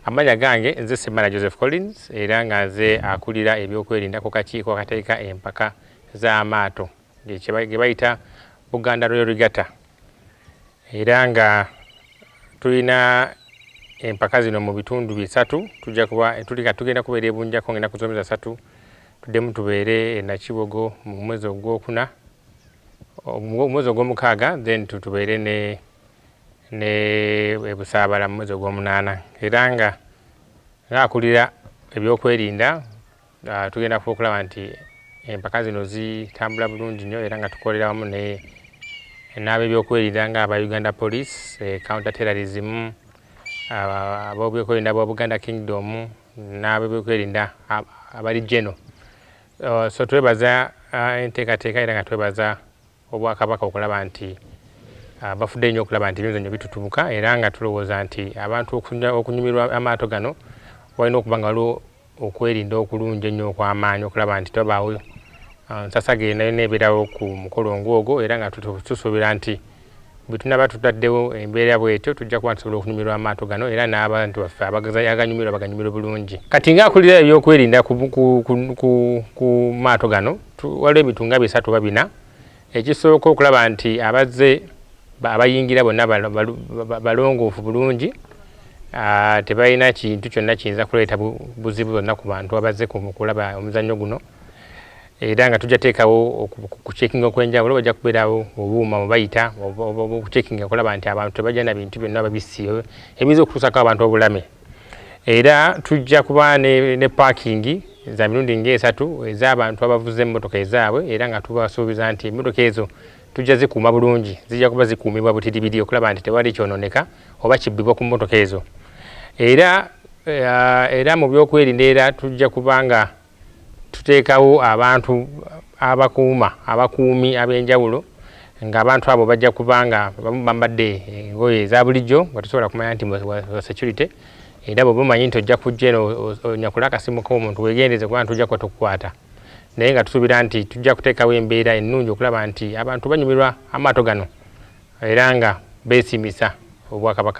Amanya gange nze Semana Joseph Collins era nga nze akulira ebyokwerinda ku kakiiko akateeka empaka z'amaato ge bayita Buganda Royal Regatta era nga tulina empaka zino mu bitundu bisatu tujja kuba tulika tugenda kubeera ebunjako ngenda kuzomeza satu tuddemu tubeere enakibogo mu mwezi ogwokuna omwezi ogwomukaaga then tubeere ne ne ebusaabala mu mwezi ogwomunaana era nga ngaakulira ebyokwerinda ah, tugenda kuba okulaba nti empaka zino zitambula bulungi nnyo era nga tukolera wamu ne n'abebyokwerinda nga aba uganda police eh, counter terrorism ah, abobyokwerinda bwa buganda kingdom n'abebyokwerinda abali geno Uh, so twebaza uh, enteekateeka era nga twebaza obwakabaka okulaba nti uh, bafudde nnyo okulaba nti ebyemizannyo bitutubuka era nga tulowooza nti abantu okunyumirwa amaato gano walina okuba nga waliwo okwerinda okulungi ennyo okw'amaanyi okulaba nti tebabaawo nsasaga enayo neebeerawo ku mukolo ng'ogwo era nga tusuubira nti Bwe tunaaba tutaddewo embeera bw'etyo, tujja kuba tusobola okunyumirwa amaato gano era n'abantu baffe abaganyumirwa baganyumirwe bulungi. Kati ng'akulira ebyokwerinda ku maato gano, waliwo ebintu nga bisatu oba bina. Ekisooka okulaba nti abazze abayingira bonna balongoofu bulungi, tebalina kintu kyonna kiyinza kuleeta buzibu bwonna ku bantu abazze okulaba omuzannyo guno. era nga tujja teekawo okucekinga okwenjawulo bajja kubeerawo obuuma mubayita okucekinga okulaba nti abantu tebajja na bintu byonna babissi ebiyinza okutuusako abantu obulame era tujja kuba ne paakingi za mirundi ngaesatu ez'abantu abavuza emmotoka ezaabwe era nga tubasuubiza nti emmotoka ezo tujja zikuuma bulungi zijja kuba zikuumibwa butiribiri okulaba nti tewali kyononeka oba kibbibwa ku mmotoka ezo era eh, era mu byokwerinda era tujja kuba nga Tuteekawo abantu abakuuma, abakuumi ab'enjawulo ng'abantu abo bajja kuba nga abamu bambadde engoye eza bulijjo nga tosobola kumanya nti wa security era bw'oba omanyi nti ojja kujja eno onyakula akasimu k'omuntu weegendereze kuba nti ojja kuba tukukwata naye nga tusuubira nti tujja kuteekawo embeera ennungi okulaba nti abantu banyumirwa amaato gano era nga beesiimisa Obwakabaka.